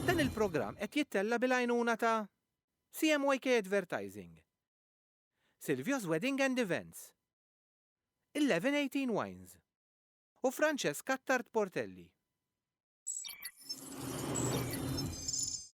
Dan il-programm qed jittella' bil-għajnuna ta' CMYK Advertising, Silvio's Wedding and Events, 1118 Wines u Francesca Attard Portelli.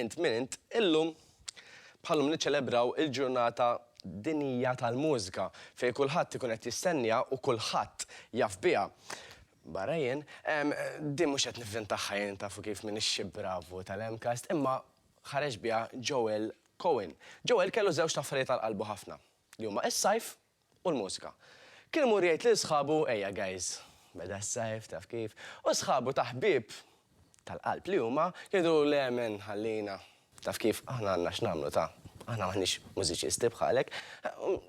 Int min int? Illum bħalllum niċċelebraw il-ġurnata dinjija tal-mużika fejn kulħadd ikun qed jistenniha u kulħadd jaf biha. Barra jien. Din mhux qed nivvintaha jien tafu kif minix xi bravu tal-MCAST imma ħareġ biha Joel Cohen. Joel kellu żewġt affarijiet għal qalbu ħafna li huma s-sajf u l-mużika. Kien imur jgħid lil sħabu, Ejja guys, beda s-sajf, taf kif, u sħabu ta' ħbieb tal-qalb li huma, kienu jgħidulu, Le men, ħallina, taf kif, aħna għandna x'nagħmlu ta', aħna m'aħniex mużiċisti bħalek.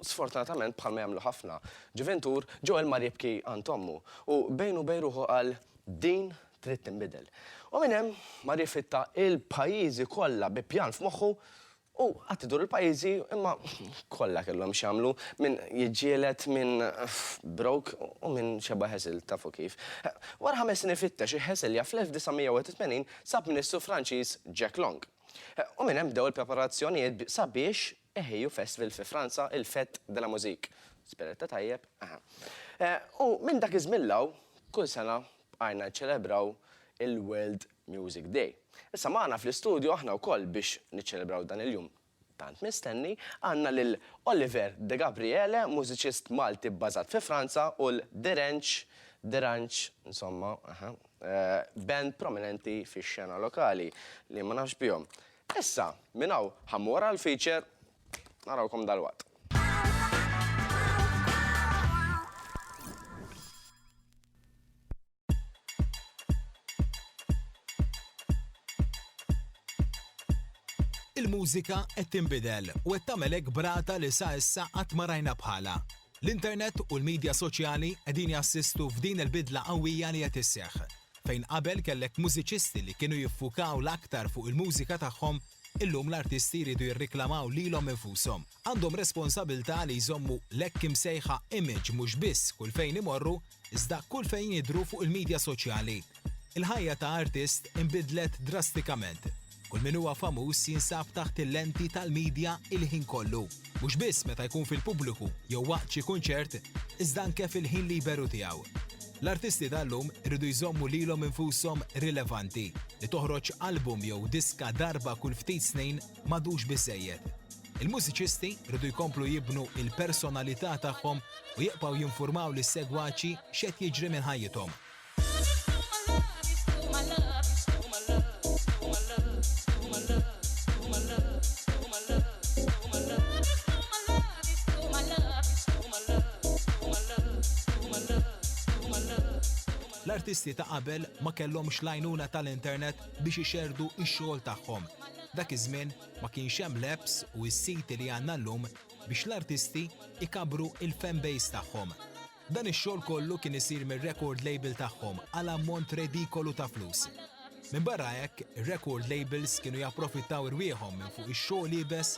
Sfortunatament, bħalma jagħmlu ħafna ġuvintur, Joel mar jibki għand ommu u bejnu u bejn ruħu qal, Din trid tinbidel. U minn hemm mar jiffitta il-pajjiżi kollha bi pjan f'moħħu U qatt idur il-pajjiżi imma kollha kellhom x'jagħmlu, min jiġġieled, min broke u min xebgħa Hesel, tafu kif. Wara ħames snin ifittex hi Heselja fl-1981 sab Ministru Franċiż Jack Long. U minn hemm bdew il-preparazzjonijiet sabiex iħejju festival fi Franza, il-Fête de la Musique. Spjegħtha tajjeb? Aha. U minn dak iż-żmien 'l hawn, kull sena bqajna niċċelebraw il-World Music Day. Issa magħna fl-istudju aħna wkoll biex niċċelebraw dan il-jum tant mistenni, għandna lil Oliver Degabriele, mużiċist Malti bbażat fi Franza u l-Derange, Derange, insomma, aha, band prominenti fix-xena lokali li ma nafx bihom. Issa, minn hawn ħa mmur għall-feature, narawkom dalwaqt. Il-mużika qed tinbidel u qed tagħmel hekk brata li sa issa qatt ma rajna bħalha. L-internet u l-midja soċjali qegħdin jassistu f'din il-bidla qawwija li qed isseħħ. Fejn qabel kellek mużiċisti li kienu jiffukaw l-aktar fuq il-mużika tagħhom, illum l-artisti jridu jirriklamaw lilhom infushom. Għandhom responsabilità li jżommu l-hekk imsejħa image mhux biss kull fejn imorru, Iżda kull fejn jidhru fuq il-midja soċjali, il-ħajja ta' artist inbidlet drastikament. Kull min huwa famuż jinsab taħt il-lenti tal-midja il-ħin kollu, mhux biss meta jkun fil-pubbliku jew waqt xi kunċert, iżda anke fil-ħin liberu tiegħu. L-artisti tal-lum iridu jżommu lilhom infushom rilevanti. Li toħroġ album jew diska darba kull ftit snin m'għadux biżżejjed. Il-mużiċisti rridu jkomplu jibnu l-personalità tagħhom u jibqgħu jinfurmaw lis-segwaċi x'qed jiġri minn ħajjithom. L-artisti ta' qabel ma kellhomx l-għajnuna tal-internet biex ixerrdu x-xogħol tagħhom. Dak iż-żmien ma kienx hemm l-apps u s-siti li għandna llum biex l-artisti jkabbru il-fanbase tagħhom. Dan ix-xogħol kollu kien isir mir-record label tagħhom għal ammont redikolu ta' flus. Minbarra hekk, ir-record labels kienu japprofittaw irwieħhom minn fuq ix-xogħol iebes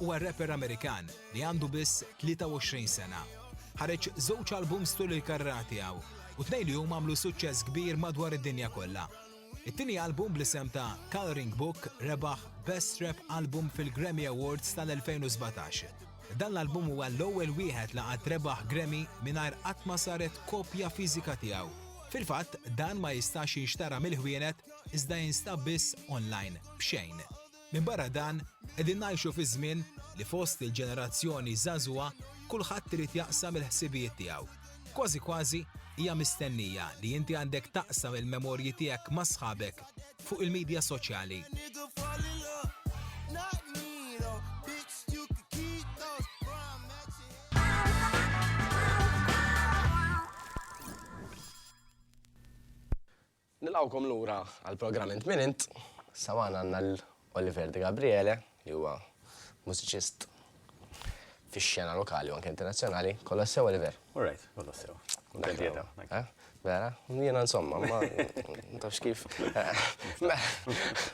huwa rapper Amerikan li għandu biss 23 sena. Ħareġ żewġ albums tul il-karriera tiegħu u tnejn li huma għamlu suċċess kbir madwar id-dinja kollha. It-tieni album bl-isem ta' Coloring Book rebaħ Best Rap Album fil-Grammy Awards tal-2017. Dan l-album huwa l-ewwel wieħed li qatt rebaħ Grammy mingħajr qatt ma saret kopja fiżika tiegħu. Fil-fatt, dan ma jistax jinxtara mill-ħwienet iżda jinstab biss online b'xejn. Minbarra dan, qegħdin ngħixu fi żmien li fost il-ġenerazzjoni żagħżugħa kulħadd irid jaqsam il-ħsibijiet tiegħu. Kważi kważi hija mistennija li inti għandek taqsam il-memorji tiegħek ma' sħabek fuq il-midja soċjali. Nilqgħukom lura għall-programm Int Min Int. Sa magħna għandna lil Oliver De Gabriele li huwa mużiċist fix-xena lokali u anke internazzjonali. Kollox sew, Oliver? All right, kollox sew. Kuntent li qiegħda. Naħseb, eh? Vera? Jiena insomma, ma ma tafx kif. Mela,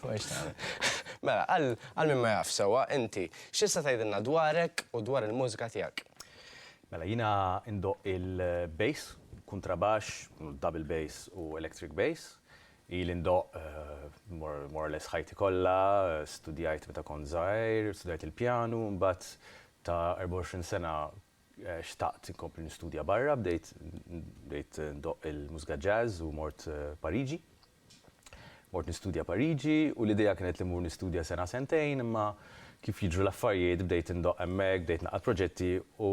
ma hiex tagħmel. Mela, għal għal min ma jafx sewwa, inti x'tista' tgħidilna dwarek u dwar il-mużika tiegħek? Mela jiena ndoqq il bass, kuntrabaxx, double bass u electric bass. Ili ndoqq more or less ħajti kollha, studjajt meta kont żgħir, studjajt il pjanu, imbagħad ta' 24 sena xtaqt inkompli nistudja barra, bdejt ndoqq il mużika jazz u mort Pariġi. Mort nistudja Pariġi u l-idea kienet li mmur nistudja sena sentejn imma kif jiġru l-affarijiet bdejt indoqq hemmhekk, bdejt naqgħad proġetti u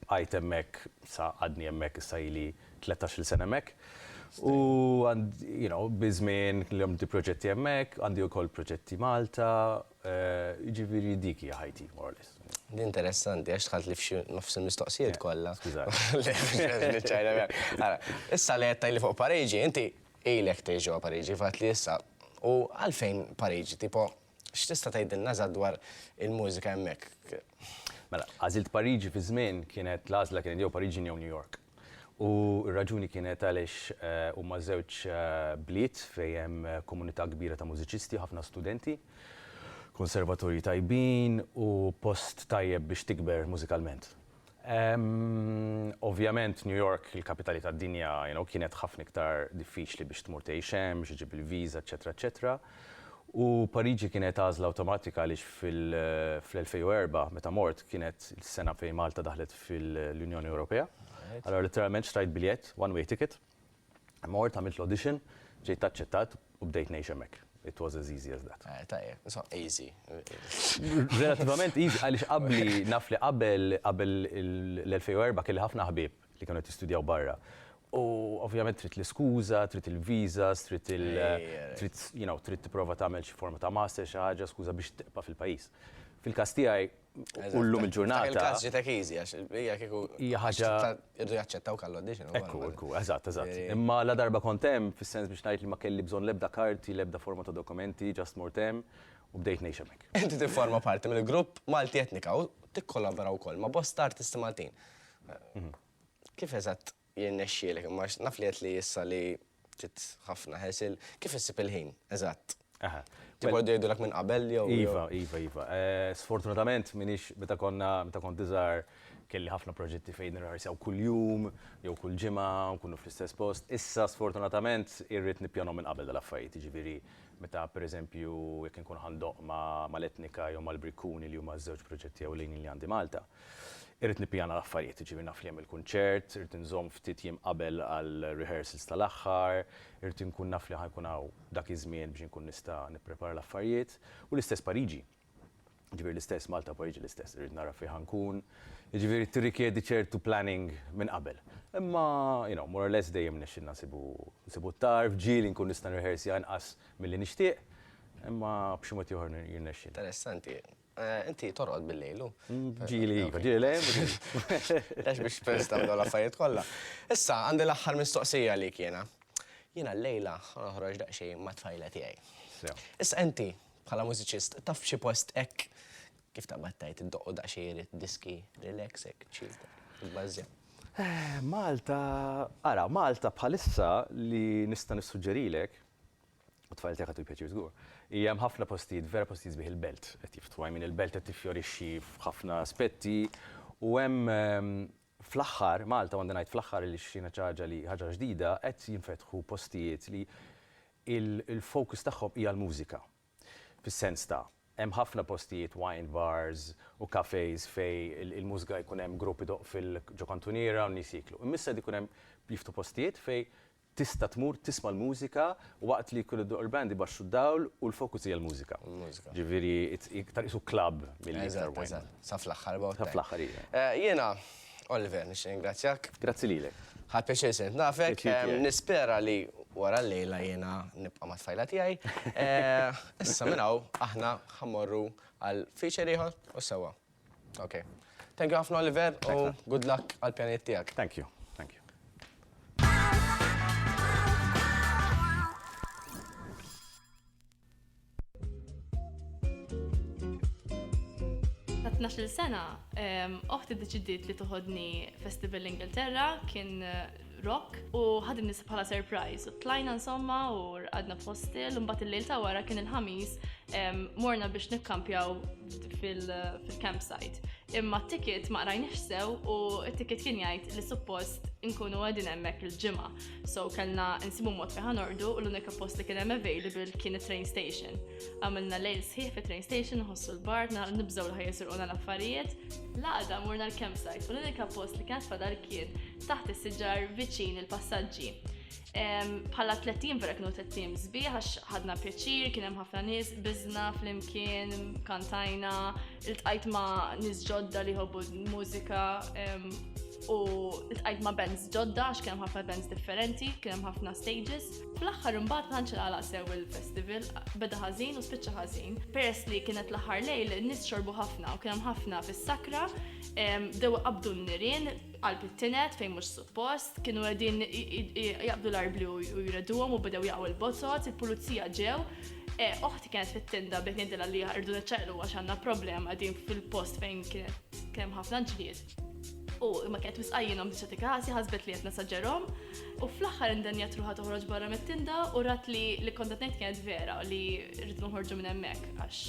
bqajt hemmhekk sa għadni hemmhekk issa ili tlettax-il sena hemmhekk. U you know, biż-żmien kellhom bdi proġetti hemmhekk, għandi wkoll proġetti Malta, jiġifieri dik hija ħajti more or less. Interessanti għax dħaltli f'xi nofs il-mistoqsijiet kollha. Skużani. Le, m'hemmx għalfejn niċċajta miegħek. Ara, issa li qed tgħidli fuq Pariġi, inti Ilek tgħix ġewwa Pariġi f'għadd li issa. U għalfejn Pariġi? Tipo, x'tista' tgħidilna eżatt dwar il-mużika hemmhekk? Mela, għażilt Pariġi fi żmien kienet l-għażla kienet jew Pariġin jew New York. U r-raġuni kienet għaliex huma żewġ bliet fejn hemm komunità kbira ta' mużiċisti, ħafna studenti, konservatorji tajbin u post tajjeb biex tikber mużikalment. Ovvjament New York, il-kapitali tad-dinja, you know, kienet ħafna iktar diffiċli biex tmur tgħix hemm, biex iġib il-viża, eċċetera, eċċetera. U Pariġi kienet għażla awtomatika għaliex fl-2004, meta mort, kienet is-sena fejn Malta daħlet fil-Unjoni Ewropea. Allura litteralment xtrajt biljett, one-way ticket, Mort għamilt l-audition, ġejt aċċettat u bdejt ngħix hemmhekk. It was as easy as that. Eh, tajjeb, so easy. Relativament easy, għaliex qabli, naf li qabel, qabel l-2004 kelli ħafna ħbieb li kienu qed jistudjaw barra. U ovvjament trid l-iskuża, trid il-visas, trid il trid you know, trid tipprova tagħmel xi forma ta' master xi ħaġa skuża biex tibqa' fil-pajjiż. Fil-każ tiegħi U llum il-ġurnata. Il-każ ġitek easy għax hija kieku. Hija ħaġa. Irdu jaċċettaw kallu għaddiex. Ekku, ekku, eżatt, eżatt. Imma la darba kont hemm fis-sens biex ngħid li ma kelli bżonn l-ebda karti, l-ebda forma ta' dokumenti, ġast mort hemm u bdejt ngħix hemmhekk. Inti tifforma parti mill-grupp Malti Etnika u tikkollabora wkoll ma' bosta artisti Maltin. Kif eżatt Jirnexxielek, imma naf li għedt li issa li ftit ħafna ħesil. Kif issib il-ħin, eżatt? Aha. Tibgħod jgħidulek minn qabel jew? Iva, iva, iva. Eh, sfortunatament minix meta konna meta kont iżgħar kelli ħafna proġetti fejn nirħarsaw kuljum jew kull ġimgħa nkunu fl-istess post. Issa sfortunatament irrid nippjanhom minn qabel dal-affarijiet, jiġifieri meta pereżempju jekk inkun ħandoq ma' l-Etnika jew mal-Brikkuni li huma ż-żewġ proġetti ewlenin li għandi Malta, Irrid nippjana l-affarijiet, jiġifieri naf li hemm il-kunċert, irrid inżomm ftit jiem qabel għall-rehearsals tal-aħħar, irrid inkun naf li ħa jkun hawn dak iż-żmien biex inkun nista' nipprepara l-affarijiet. U l-istess Pariġi. Jiġifieri l-istess Malta u Pariġi l-istess, irrid nara fejn ħa nkun. Jiġifieri tirrikjedi ċertu planning minn qabel. Imma, you know, more or less dejjem nexxilna nsibu nsibu t-tarf, ġieli nkun nista' nirrehearsja inqas milli nixtieq, imma b'xi mod ieħor jirnexxilna. Interessanti. Eh, inti torqod bil-lejlu. Mm, ġili, iva, ġili lejl. Għax biex pers tamlu l-affarijiet kollha. Issa, għandi l-aħħar mistoqsija li kiena. Jiena l-lejla ħanħroġ daqxej ma' tfajla tiegħi. Issa inti, bħala mużiċist, taf xi post hekk kif ta' battajt id-doqqu daqxej irid diski relaxek, ċilta, il-bażja. Eh, Malta, ara, Malta bħalissa li nista' nissuġġerilek u t-tfajl tiegħek ħadu l-pjaċir żgur, hija hemm ħafna postijiet, vera postijiet sbieħ il-belt qed jiftħu, I mean il-belt qed tiffjorixxi f'ħafna aspetti u hemm fl-aħħar, Malta u għandi ngħid fl-aħħar għaliex jiena xi ħaġa li ħaġa ġdida, qed jinfetħu postijiet li l-focus tagħhom hija l-mużika. Fis-sens ta', hemm ħafna postijiet wine bars u cafés fejn il-mużika jkun hemm grupp idoqq ġo kantuniera u n-nies jieklu. Imma issa qed ikun hemm jiftħu postijiet fejn Tista' tmur tisma' l-mużika waqt li jkun iddoqq il-band ibaxxu d-dawl u l-focus hija l-mużika. Il-mużika. Ġifieri iktar qisu club milli iktar wine. Eżatt, eżatt. Sa fl-aħħar about time. Sa fl-aħħar, iva. Jiena, Oliver, nixtieq ningrazzjak. Grazzi lilek. Ħadt pjaċir sirt nafek. Pjaċir tiegħi. Nispera li wara llejla jiena nibqa' mat-tfajla tiegħi. Issa minn hawn aħna ħa mmorru għal feature ieħor u sewwa. Ok. Thank you ħafna Oliver u good luck għal pjanijiet tiegħek. Thank you. Thank you. Ta' 12 sena, oħti deċidiet li toħodni Festival Ingilterra, kien rock u ħadim nisa bħala surprise u tlajna insomma u rqadna f'hostel u mbagħad il-lejl ta' wara kien il-ħamis morna biex nikkampjaw fil-campsite. Imma t-ticket ma qrajniex sew u t-ticket kien jgħid li suppost inkunu għedin hemmhekk il-ġimgħa. So kellna nsibu mod fi ħanordu u l-unika post li kien hemm available kien it-train station. Għamilna lejl sħiħ fi train station ħossu l-bar nibżgħu l-ħajja l-affarijiet. Laqda morna l-campsite u l-unika post li kien fadal kien taħt is-siġar viċin il-passaġġi. Bħala tlettim vera kienu tlettim zbi, għax ħadna pjaċir, kien hemm ħafna nies, biżna flimkien, kantajna, iltqajt ma' nies ġodda li ħobbu mużika u iltqajt ma' bands ġodda għax kien hemm ħafna bands differenti, kien hemm ħafna stages. Fl-aħħar imbagħad ħanċel għalaq sew il-festival, beda ħażin u spiċċa ħażin. Peress li kienet l-aħħar lejl, nies xorbu ħafna u kien hemm ħafna fis-sakra, dew qabdu n-nirien, qalb it-tined fejn mhux suppost, kienu qegħdin jaqbdu l-arbli u jredduhom u bdew jaqgħu l-bozot, il-pulizija ġew, oħti kienet fit-tinda bdejt ngħidilha li rdu niċċaqlu għax għandna problema din fil-post fejn kienet kemm ħafna ġlied. U ma kienet wisqajjinhom biex dik ħasi ħasbet li qed nasaġġerhom u fl-aħħar indenja truħa toħroġ barra mit-tinda u rat li li kont qed ngħid kienet vera li rridu nħorġu minn hemmhekk għax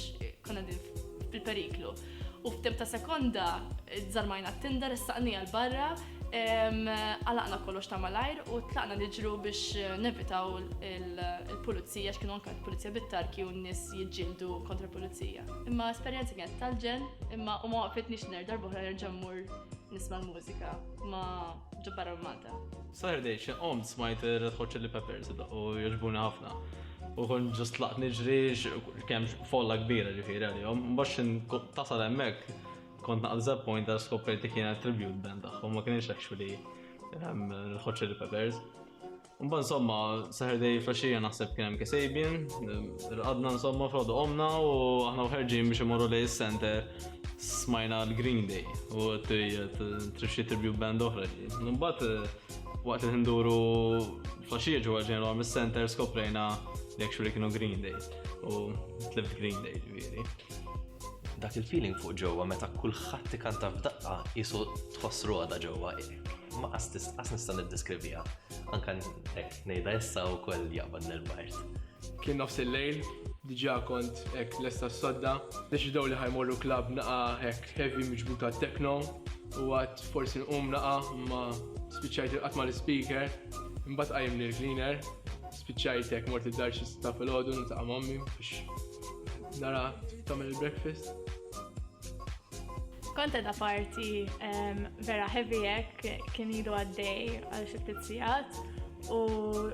konna din fil-periklu. U f'temp ta' sekonda, żarmajna t-tinda, ressaqnija l-barra, għalaqna kollox ta' malajr u tlaqna niġru biex nevitaw il-pulizija, x'kienu anka l-pulizija bit-tarki u n-nis jġildu kontra pulizija. Imma esperienza kienet tal-ġen, imma u ma waqfitnix nerġa' l-boħra nerġa' mmur nisma' l-mużika ma ġobbarra Saturday xi qomt smajt Red Hot Chili Peppers u jogħġbuni ħafna. U kon ġust laqt niġri kemm folla kbira ġifieri għalihom. Mbagħad tasal hemmhekk kont naqal Zep Point għal skoprejt li kienet tribute band tagħhom ma kienx actually ehm, Red Hot Chili Peppers. Mba insomma, Saturday flasġija naħseb kien hemm Kasabian, rqadna insomma frodu omna u aħna uħerġin biex imorru lej is-center. smajna l-Green Day u t-trixxi tribute band oħra. Numbat eh, waqt li nduru flasġija ġewwa ġenwa mis-center skoprejna li actually kienu Green Day u tlift Green Day ġifieri. Dak il-feeling fuq ġewwa meta kulħadd ikanta f'daqqa jisu tħoss roda ġewwa ma qas nista' niddeskrivija. Anka ngħidha issa wkoll jaqbad nil-bajt. Kien nofs il-lejl, diġà kont hekk lesta s-sodda. Deċidew li ħa jmorru klabb naqa' hekk heavy miġbuta techno u għadt forsi nqum naqa' imma spiċċajt irqadt mal-ispeaker. Imbagħad qajjimni l-cleaner, spiċċajt hekk mort id-dar xi sitta filgħodu niltaqa' m'ommi biex nara tagħmel il-breakfast. Kont qed party vera heavy hekk kien ilu għaddej għal xi ftit sigħat U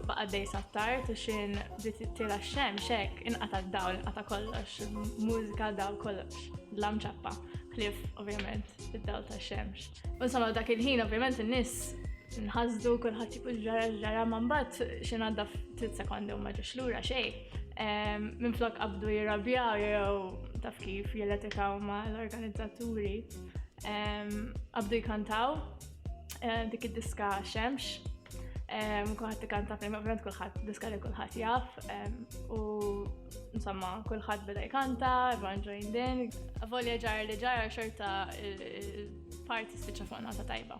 baqa' dej sattar tu xin bdiet tila x-xemx hekk inqata' d-dawl, inqata' kollox, mużika daw kollox, dlam ċappa, ħlief ovvjament id-dawl tax-xemx. U insomma dak il-ħin ovvjament in-nies nħasdu kulħadd jieku ġara ġara ma mbagħad xi ngħadda ftit sekondi u ma ġiex lura xejn. Ehm, minn flok qabdu jirrabjaw jew taf kif jilletikaw ma l-organizzaturi. Ehm, qabdu jkantaw eh, dik id-diska xemx, kullħat li kanta fejn, ovvijament kullħat diska li kullħat jaf, u insomma kullħat beda jkanta, everyone joined in, volja ġar li ġar xorta parti spiċa fuq nota tajba.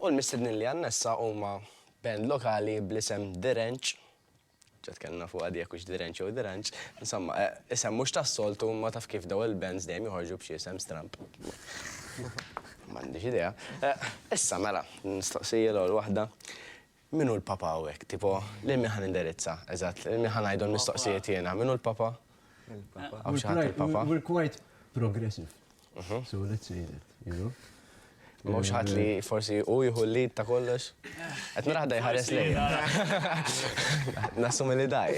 U l-mistednin li għanna issa huma band lokali bl-isem The Ranch. Ġat kellna fuq għadija kux The Ranch u The Ranch. Insomma, eh, isem mux ta' soltu ma taf kif daw il-bands dejjem joħorġu b'xi isem stramp. M'għandix idea. Eh, issa mela, nistaqsija l-ewwel waħda. Min hu l-Papa hawnhekk? Tipo, lil min ħa nindirizza? Eżatt, lil min ħa ngħidhom l-mistoqsijiet jiena? Min hu l-Papa? Hawn xi ħadd il-Papa? We're quite progressive. So let's say that, you know? Ma hawnx ħadd li forsi hu jieħu l-lead ta' kollox? Qed nara ħadd jħares lejja. Nassumi li daj.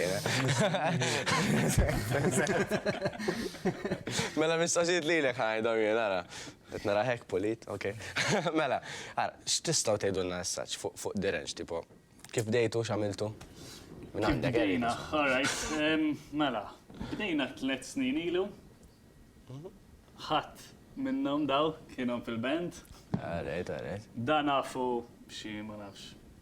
Mela mistoqsijiet lilek ħa ngħidhom jien, ara. Qed narah hekk pulit, ok. Mela, ara, x'tistgħu tgħidulna issa fuq Direnġ, tipo, kif bdejtu, x'għamiltu? Minn għandek, Eric. Kif bdejna, all right. Mela, bdejna tliet snin ilu. Ħadd minnhom daw kienhom fil-band. All right, all right. Dan nafu b'xi, ma nafx,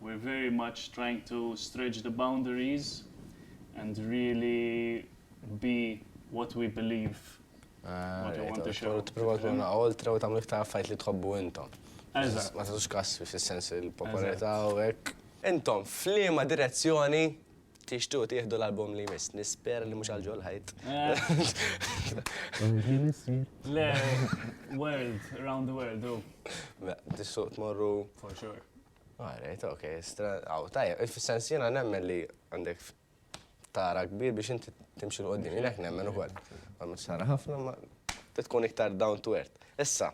We're very much trying to stretch the boundaries and really be what we believe what we want to show. Tmur tmur tmur ma' oltre u tagħmlu iktar affarijiet li tħobbu intom. Eżatt. Ma tagħtux każ fis-sens il-popolarità u hekk. Intom f'liema direzzjoni Tixtiequ tieħdu l-album li jmiss, nispera li mhux għal ġol ħajt. Le, world, round the world, u. Mela, tissuq tmorru. For sure. Alright, ok, stra. Aw, tajja, fis-sens jiena nemmen li għandek tara kbir biex inti timxi l-qoddim, jiena hekk nemmen ukoll. Ma mhux tara ħafna ma tkun iktar down to earth. Issa,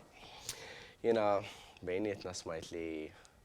jiena bejnietna smajt li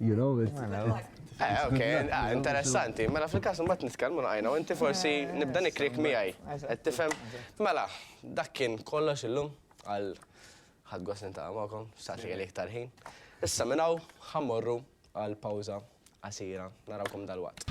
You know, it's... Eh, ok, ah, interessanti. Mela fil-kas mbagħad nitkellmu naqajna u inti forsi nibda nikrik miegħi. Qed tifhem? Mela, dak kien kollox illum għal ħadd gost nintaqa' magħkom, xtaqt li iktar ħin. Issa minn hawn ħammorru għal pawża qasira. Narawkom dal-waqt.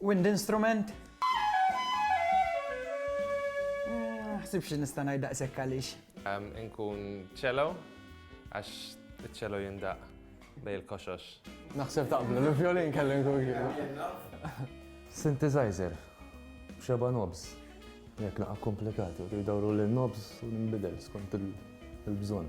Wind instrument? Ma ħsibx li nista' ngħid daqshekk għaliex. Inkun cello għax iċ-cello jindaq bej il-koxox. Naħseb taqblu, l-vjolin kelli nkun Synthesizer, b'xeba' knobs. Jekk naqa' komplikati, jridu jdawru lin-knobs u ninbidel skont il-bżonn.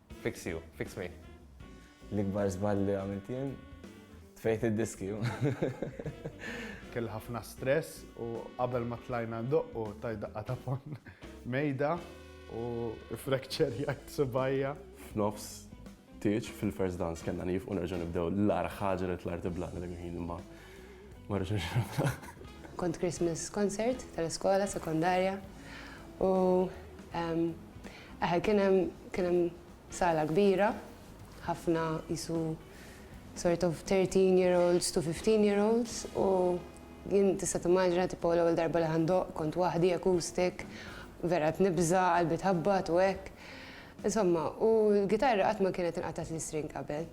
Fix you, fix me. L-ikbar żball li għamilt jien tfejt id-diski. Kell ħafna stress u qabel ma tlajna ndoqqu taj daqqa ta' fon mejda u frekċer jgħid subajja. F'nofs tieċ fil-first dance kellna nif u nerġa' nibdew l-ar ħaġa li tlar tibla dak il-ħin imma ma rġax Kont Christmas concert tal-iskola sekondarja u Eħe kien hemm kien hemm sala kbira, ħafna qisu sort of thirteen year olds to fifteen year olds u jien tista' timmaġina tipo l-ewwel darba li ħa ndoqq kont waħdi acoustic vera qed nibża' qalbi tħabbat u hekk. Insomma, u l-gitarra qatt ma kienet inqatgħatli string qabel.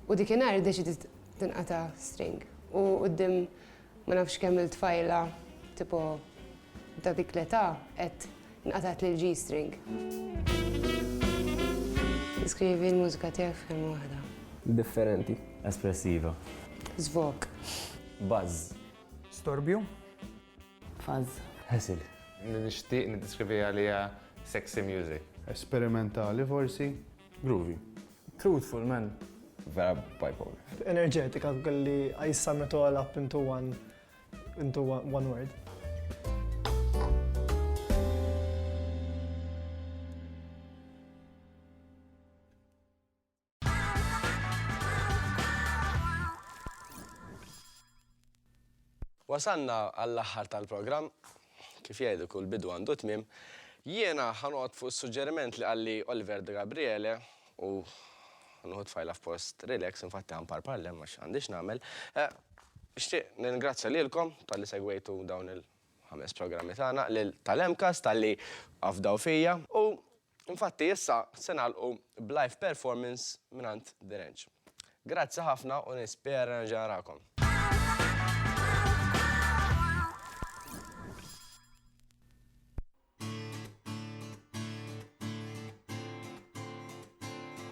U dikinhar iddeċidiet tinqata' string u quddiem Ma nafx kemm il-tfajla tipo ta' dik l-età qed nqatgħet lil G-string. Deskrivi l-mużika tiegħek f'kelma waħda. Differenti. Espressiva. Żvok. Buzz. Storbju. Fuzz. Ħesil. Nixtieq niddeskriviha li hija sexy music. Esperimentali forsi. Groovy. Truthful man. Vera bipolar. Enerġetika li I sum it all up into one into one word. Wasalna għall-aħħar tal-programm. Kif jgħidu kull bidu għandu tmiem. Jiena ħa noqgħod fuq is-suġġeriment li qalli Oliver De Gabriele u ħa nieħu t-tfajla f'post relax, infatti ħa nparpar l-hemm għax għandi x'nagħmel. Nixtieq nirringrazzja lilkom talli segwejtu dawn il-ħames programmi tagħna, lil Tal-MCAST talli afdaw fija u Infatti issa se nagħlqu b'live performance mingħand The Range. Grazzi ħafna u nispera nerġa' narakom.